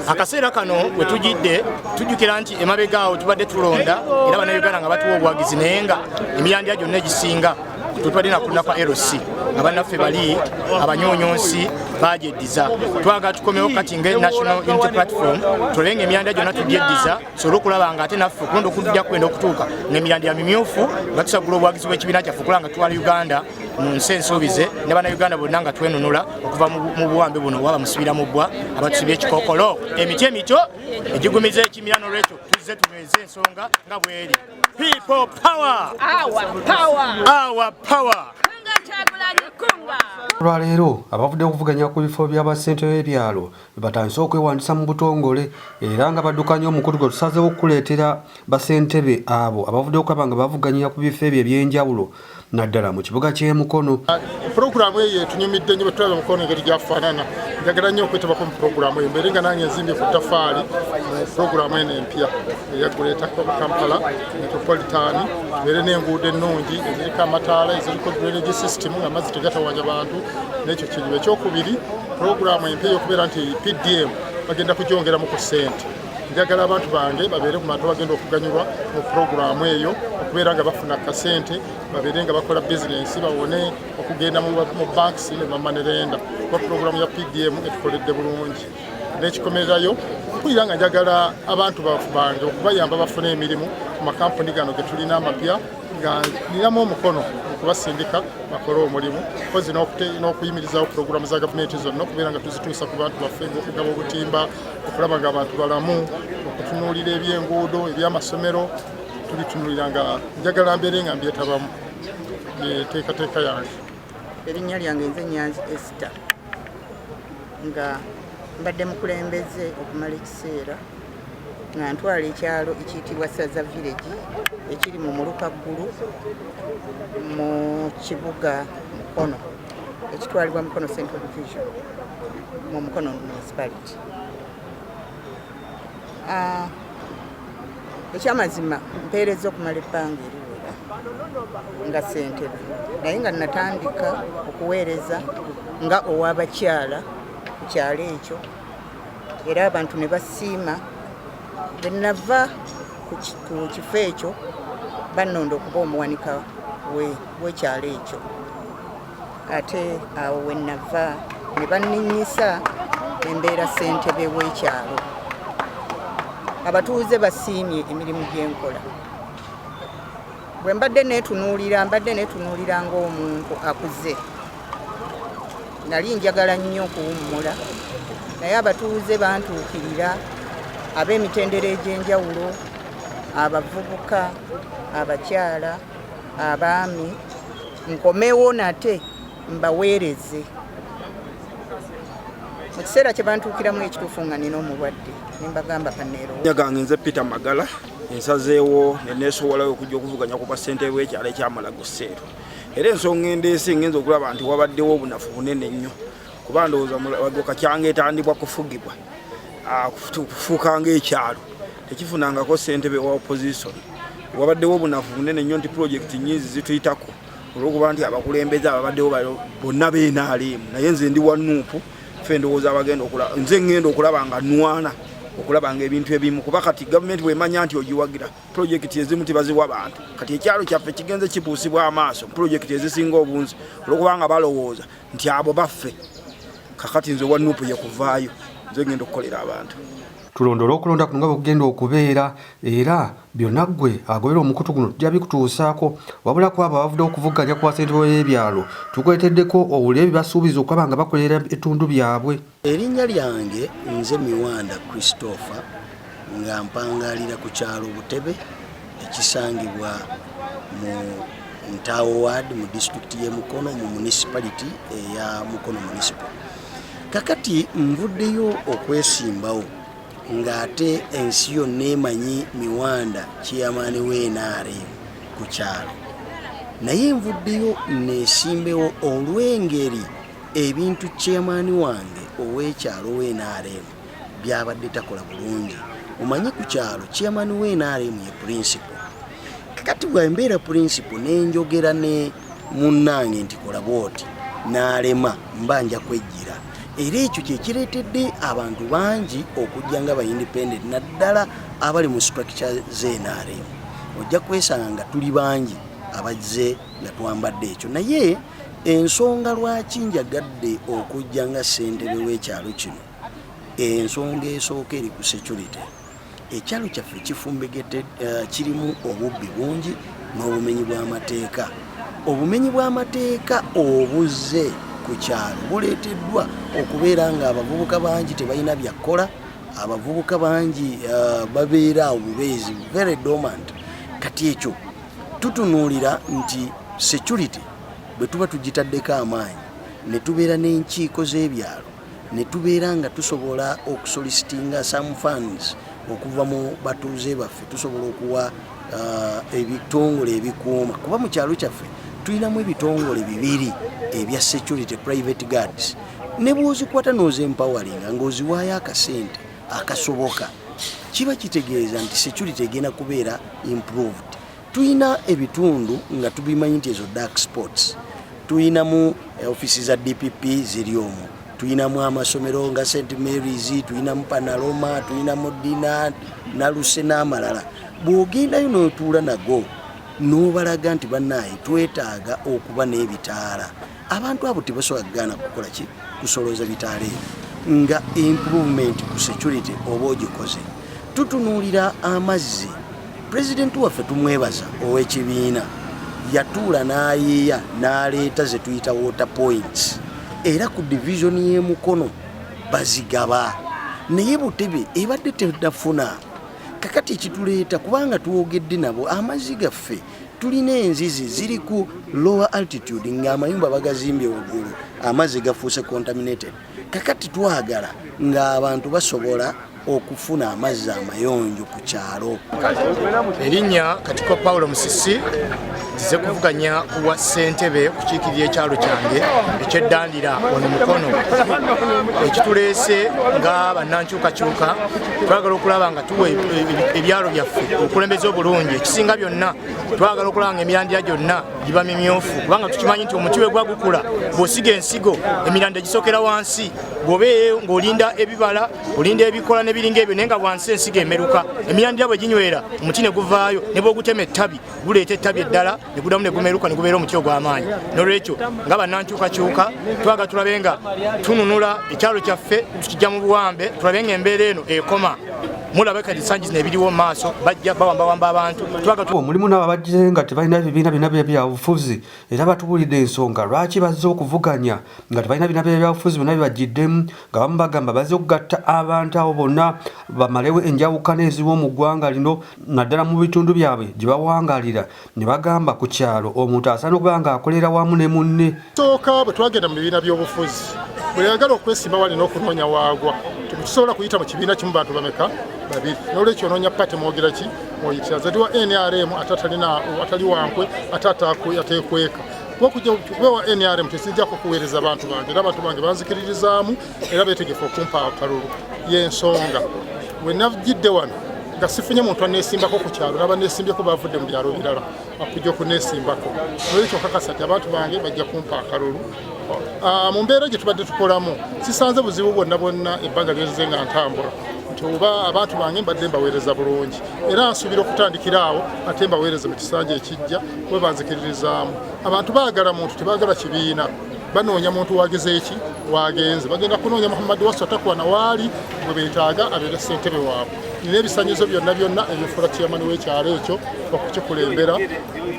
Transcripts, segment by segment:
akaseera kano we tujidde tujjukira nti emabega awo tubadde tulonda era bannayuganda nga batuwa obuwagizi naye nga emirandira gyonna egisinga twetubadde nakulina kwa lc nga bannaffe bali abanyonyonsi bagyeddiza twagala tukomewo kati nga national unity platform tulebenga emyanda gyonna tugyeddiza tusobole okulaba nga ate naffe okulonda okujja kwenda okutuuka nemirandi ya mimyufu nga tusagula obwagizi bw'ekibiina kyaffe okulaba nga twala uganda mu nsi ensuubize ne bannayuganda bonna nga twenunula okuva mu buwambe buno waba musibira mu bbwa abatusibye ekikokolo emiti emito egigumiza ekimira nolwekyo tuzze tunyweze ensonga nga bweri people power our power olwaleero abavudde okuvuganya ku bifo by'abassentebe byalo batandise okwewandiisa mu butongole era nga badukanya omukutu gwe tusazeewo okukuleetera basentebe abo abavuddeyo okulaba nga bavuganyira ku bifo ebyo eby'enjawulo naddala mu kibuga ky'e Mukono. Pulogulaamu eyo etunyumidde nnyo bwetulaba Mukono engeri gyafaanana njagala nnyo okwetabako mu pulogulaamu eyo mbeere nga nange nzimbye ku ttafaali mu pulogulaamu eno empya. eya Greater Kampala Metropolitan beere n'enguudo ennungi eziriko amataala eziriko drainage system nga mazzi tegatawanya bantu n'ekyo kizibu ekyokubiri pulogulaamu empya ey'okubeera nti PDM bagenda kugyongeramu ku ssente njagala abantu bange babeere ku bantu bagenda okuganyulwa mu pulogulaamu eyo okubeera nga bafuna kasente babeere nga bakola bizinensi bawone okugenda mu banks ne bamanerenda kuba pulogulaamu ya PDM etukoledde bulungi nekikomererayo mpulira nga njagala abantu bange okubayamba bafune emirimu ku makampuni gano getulina amapya nga ninamu omukono okubasindika bakole omulimu kozi n'okuyimirizawo pulogulaamu za gavumenti zonna okubeera nga tuzituusa ku bantu baffe ngaokugaba obutimba okulaba nga abantu balamu okutunuulira ebyenguudo ebyamasomero tubitunulira nga njagala mbeere nga mbyetabamu yeteekateeka yange erinnya lyange nze nyanzi ester nga mbadde mukulembeze okumala ekiseera nga ntwala ekyalo ekiyitibwa saza village ekiri mu muluka ggulu mu kibuga mukono ekitwalibwa mukono central division mu mukono municipality Ah, ekyamazima mpeereza okumala ebbanga eriwera nga sentebe naye nga natandika okuweereza nga owabakyala ku kyalo ekyo era abantu ne basiima bwenava ku kifo ekyo bannonda okuba omuwanika w'ekyalo ekyo ate awo wenava ne banninyisa embeera ssentebe w'ekyalo abatuuze basiimye emirimu gyenkola bwe mbadde neetunuulira mbadde neetunuulira ng'omuntu akuze nali njagala nnyo okuwummula naye abatuuze bantuukirira ab'emitendera egy'enjawulo abavubuka abakyala abaami nkomewo nate mbaweereze mu kiseera kye bantuukiramu ekituufu nga nina omulwadde ne mbagamba kaneero gange nze peter magala ensazeewo ne neesowolayo okujja okuvuganya ku bwassente bw'ekyalo ekyamala guseero era ensonga endeese ngenza okulaba nti wabaddewo obunafu bunene nnyo kuba ndowooza mulagoka kyanga etandibwa kufugibwa ah, kufuuka ngaekyalo tekifunangako sentebe wa opposition wabaddewo obunafu bunene nnyo nti pulojekiti nyingi zituyitako olwokuba nti abakulembeze ababaddewo bonna benaliimu naye nze ndi wa nuupu fe ndowooza abagenda okulaba nze ngenda okulaba nga nwana okulaba nga ebintu ebimu kuba kati gavumenti bwemanya nti ogiwagira pulojekiti ezimu tibaziwa bantu kati ekyalo kyaffe kigenze kibuusibwa amaaso pulojekiti ezisinga obunzi olwokubanga balowooza nti abo baffe kakati nze owa nupu yekuvaayo nze ngenda okukolera abantu tulondole okulonda kuno nga bwekugenda okubeera era byonna ggwe agobera omukutu guno tujja bikutuusaako wabula ku abo abavudde okuvuganya ku basente b'ebyalo tukuleeteddeko owulire bye basuubiza okulaba nga bakolera ebitundu byabwe Erinnya lyange nze Miwanda Christopher nga mpangaalira ku kyalo Butebe ekisangibwa mu Ntaawo Ward mu disitulikiti y'e Mukono mu municipality eya Mukono municipal. Kakati nvuddeyo okwesimbawo ng'ate ensi yonna emanyi Miwanda chairman w'enaare ku kyalo naye nvuddeyo neesimbewo olw'engeri Ebintu chairman wange ow'ekyalo w'NRM byabadde takola bulungi. Omanyi ku kyalo chairman w'NRM ye principal. Kakati bwe mbeera principal ne njogera ne munnange nti kola bw'oti n'alema mba nja kwejjira. Era ekyo kye kireetedde abantu bangi okujja nga ba independent naddala abali mu structure z'NRM. Ojja kwesanga nga tuli bangi abazze nga twambadde ekyo naye ensonga lwaki njagadde okujja nga ssentebe w'ekyalo kino ensonga esooka eri ku security ekyalo kyaffe kifumbegete eh, kirimu obubbi bungi n'obumenyi bw'amateeka obumenyi bw'amateeka obuzze ku kyalo buleeteddwa okubeera nga abavubuka bangi tebalina byakkola abavubuka bangi eh, babeera obubeezi very dormant kati ekyo tutunuulira nti security bwe tuba tugitaddeko amaanyi ne tubeera n'enkiiko z'ebyalo ne tubeera nga tusobola okusolisitinga some funds okuva mu batuuze baffe tusobola okuwa uh, ebitongole ebikuuma kuba mu kyalo kyaffe tulinamu ebitongole bibiri ebya security private guards ne bwozikwata nozempawalinga ngaoziwaayo akasente akasoboka kiba kitegeeza nti security egenda kubeera improved tulina ebitundu nga tubimanyi nti ezo dark sports tulinamu eh, ofisi za dpp ziri omu tulinamu amasomero nga st marys tulinamu panaloma tulinamu dina naluse n'amalala bw'ogendayo n'otuula nago n'obalaga nti bannaaye twetaaga okuba n'ebitaala abantu abo tebasobola kugaana kukola ki kusolooza bitaala ebyo nga improvement ku security oba ogikoze tutunuulira amazzi pulezidenti waffe tumwebaza ow'ekibiina yatuula n'ayiiya n'aleeta ze tuyita water points era ku divisioni y'emukono bazigaba naye butebe ebadde tedafuna kakati ekituleeta kubanga twogedde nabo amazzi gaffe tulina enzizi ziri ku lower altitude ng'amayumba bagazimbye waggulu amazzi gafuuse contaminated kakati twagala ng'abantu basobola okufuna amazzi amayonjo ku kyalo erinnya katiko paulo musisi nzize kuvuganya kuwa ssentebe kukiikirira ekyalo kyange ekyeddandira ono mukono ekituleese nga bannankyukakyuka twagala okulaba nga tuwa e, e, ebyalo byaffe obukulembeze obulungi ekisinga byonna twagala okulaba nga emirandira gyonna giba mimyufu kubanga tukimanyi nti omuti wegwa gukula bw'osiga ensigo emirandira gisokera wansi bw'oba ng'olinda ebibala olinda ebikola n'ebiringa ebyo naye nga wansi ensigo emeruka emirandira bwe ginywera omuti ne guvaayo ne bw'ogutema ettabi guleeta ettabi eddala ne gudamu ne gumeruka ne gubeera omuti ogw'amaanyi n'olwekyo nga bannankyukakyuka twaga tulabe nga tununula ekyalo kyaffe tukijja mu buwambe tulabe nga embeera eno ekoma mulaba kati sanji zino ebiriwo maaso bajja bawambawamba abantu omulimu nabo abajje nga tebalina bibiina bina byabufuzi era batubulidde ensonga lwaki bazze okuvuganya nga tebalina bibiina byabyabufuzi byona bibajjiddemu nga bamu bagamba bazze okugatta abantu abo bonna bamalewo enjawukana eziwo mu ggwanga lino naddala mu bitundu byabwe gye bawangalira ne bagamba ku kyalo omuntu asaana okuba nga akolera wamu ne munne sooka bwe twagenda mu bibiina by'obufuzi buli ayagala okwesimba wali n'okunoonya waagwa tusobola kuyita mu kibiina kimu bantu bameka babiri nolwekyo onoonya pate mwogera ki mwoyitira zati wa nrm ate atalina atali wankwe ate atekweka okujja kubewa nrm tesinjako kuweereza bantu bange era abantu bange banzikiririzaamu era beetegefu okumpa akalulu y'ensonga we nagidde wano nga sifunye muntu anesimbako ku kyalo naba nesimbyeko bavudde mu byalo birala akujja okunesimbako nolwekyo kakasa ti abantu bange bajja kumpa akalulu ah, mu mbeera gye tubadde tukolamu sisanze buzibu bwonna bwonna ebbanga lyeze nga ntambula nti oba abantu bange mbadde mbaweereza bulungi era nsuubira okutandikira awo ate mbaweereze mu kisanja ekijja webanzikiririzaamu abantu baagala muntu tebagala kibiina banoonya muntu wagezeeki wagenze bagenda kunoonya muhammad wasu atakuwa nawaali gwe betaaga abeera ssentebe waabwe nina ebisanyizo byonna byonna ebifuula kiyamani w'ekyalo ekyo okukikulembera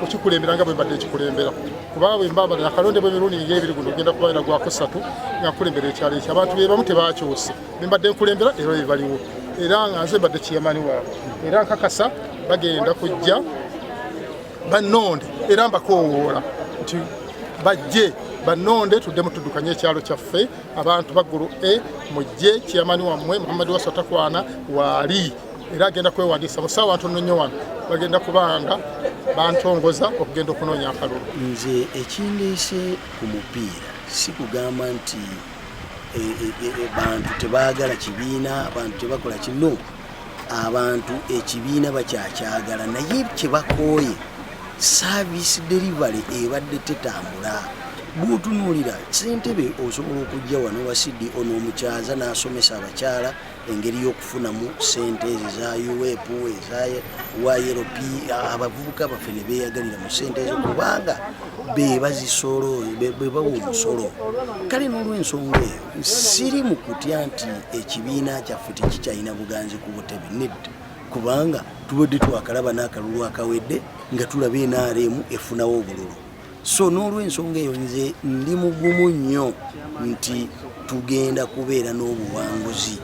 okukikulembera nga bwembadde ekikulembera kuba bwembabala akalonde bwemirundi nga ebiri guno ogenda kuba era gwakusatu nga nkulembera ekyalo ekyo abantu bebamu tebakyuse bembadde nkulembera era bebaliwo era nga nze mbadde kiyamani waabwe era nkakasa bagenda kujja bannonde era mbakoowoola nti bajje bannonde tuddemu tuddukanye ekyalo kyaffe abantu baggulu e mujje kiyamani wammwe muhammadi wasa takwana waali era agenda kwewandiisa musaawa ntono nnyo wano bagenda kubanga bantongoza okugenda okunoonya akalulu nze ekindeese ku mupiira si kugamba nti eh, eh, eh, bantu tebagala kibiina abantu tebakola kino abantu ekibiina bakyakyagala naye kyebakooye service delivery ebadde tetambula bwotunuulira sentebe osobola okujja wano wa cdo e n'omukyaza n'asomesa abakyala engeri y'okufunamu sente ezo eza uep eza ylp abavubuka baffe ne beeyagalira mu sente ezo kubanga be bazisolo be bawa omusolo kale n'olwensonga eyo siri mu kutya nti ekibiina kyaffe tekikyalina buganzi ku butebe nedda kubanga tubadde twakalaba n'akalulu akawedde nga tulaba nrm efunawo obululu so n'olwensonga eyo nze ndi mugumu nnyo nti tugenda kubeera n'obuwanguzi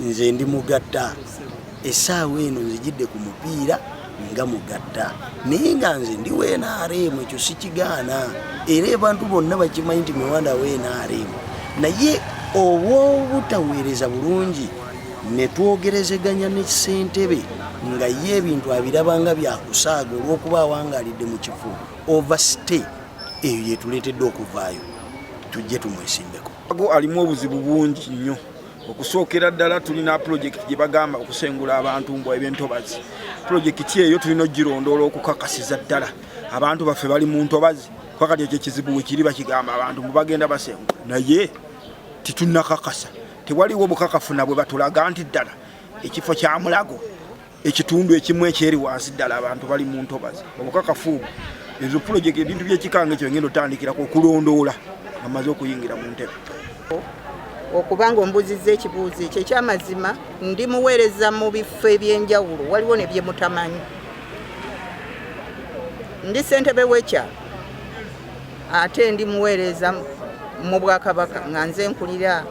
nze ndi mugatta Essaawa eno nzijidde ku mupiira nga mugatta naye nga nze ndi wa nrm ekyo sikigaana era abantu bonna bakimanyi nti miwanda wa nrm naye obwobutaweereza bulungi ne twogerezeganya ne ssentebe nga ye ebintu abiraba nga byakusaaga olw'okuba awangalidde mu kifo overstay eyo yetuleetedde okuvaayo tujje tumwesimbeko ago alimu obuzibu bungi nnyo okusookera ddala tulina pulojekiti gye bagamba okusengula abantu mbwa eby'entobazi pulojekiti eyo tulina okugirondoola okukakasiza ddala abantu baffe bali mu ntobazi kuba kati ekyo ekizibu wekiri bakigamba abantu mbu bagenda basengula naye titunnakakasa tewaliwo bukakafu na bwe batulaga nti ddala ekifo kya mulago ekitundu ekimu ekyeri wansi ddala abantu bali mu ntobazi obukakafu obwo ezo pulojekiti ebintu byekikanga ekyo ngenda otandikirako okulondoola nga maze okuyingira mu ntebe okuba nga ombuziza ekibuuzo ekyo ekyamazima ndi muweereza mu bifo ebyenjawulo waliwo ne byemutamanyi ndi sentebe wekya ate ndi muweereza mu bwakabaka nga nze nkulira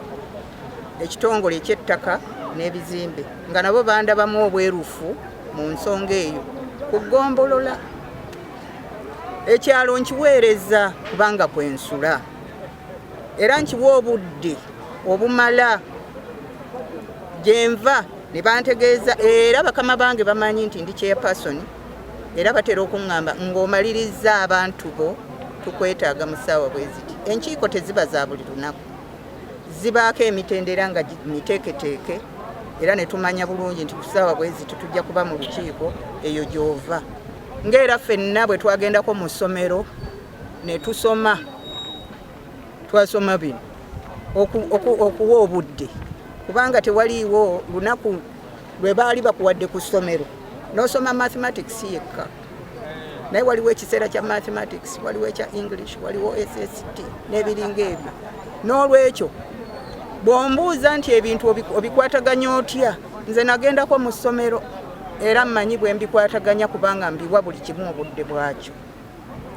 ekitongole ekyettaka n'ebizimbe nga nabo bandabamu obwerufu mu nsonga eyo ku ggombolola ekyalo nkiweereza kubanga kwensula era nkiwa obudde obumala gyenva ne bantegeeza era bakama bange bamanyi nti ndi chairperson era batera okuŋŋamba ng'omalirizza abantu bo tukwetaaga mu ssaawa bwe ziti enkiiko teziba za buli lunaku zibaako emitendera nga miteeketeeke era ne tumanya bulungi nti ku ssaawa bwe ziti tujja kuba mu lukiiko eyo gy'ova ng'era ffenna bwe twagendako mu ssomero ne tusoma twasoma bino okuwa obudde kubanga tewaliiwo lunaku lwe baali bakuwadde ku ssomero n'osoma mathematics yekka naye waliwo ekiseera kya mathematics waliwo ekya english waliwo sst n'ebiringa ebyo n'olwekyo bw'ombuuza nti ebintu obikwataganya otya nze nagendako mu ssomero era mmanyi bwe mbikwataganya kubanga mbiwa buli kimu obudde bwakyo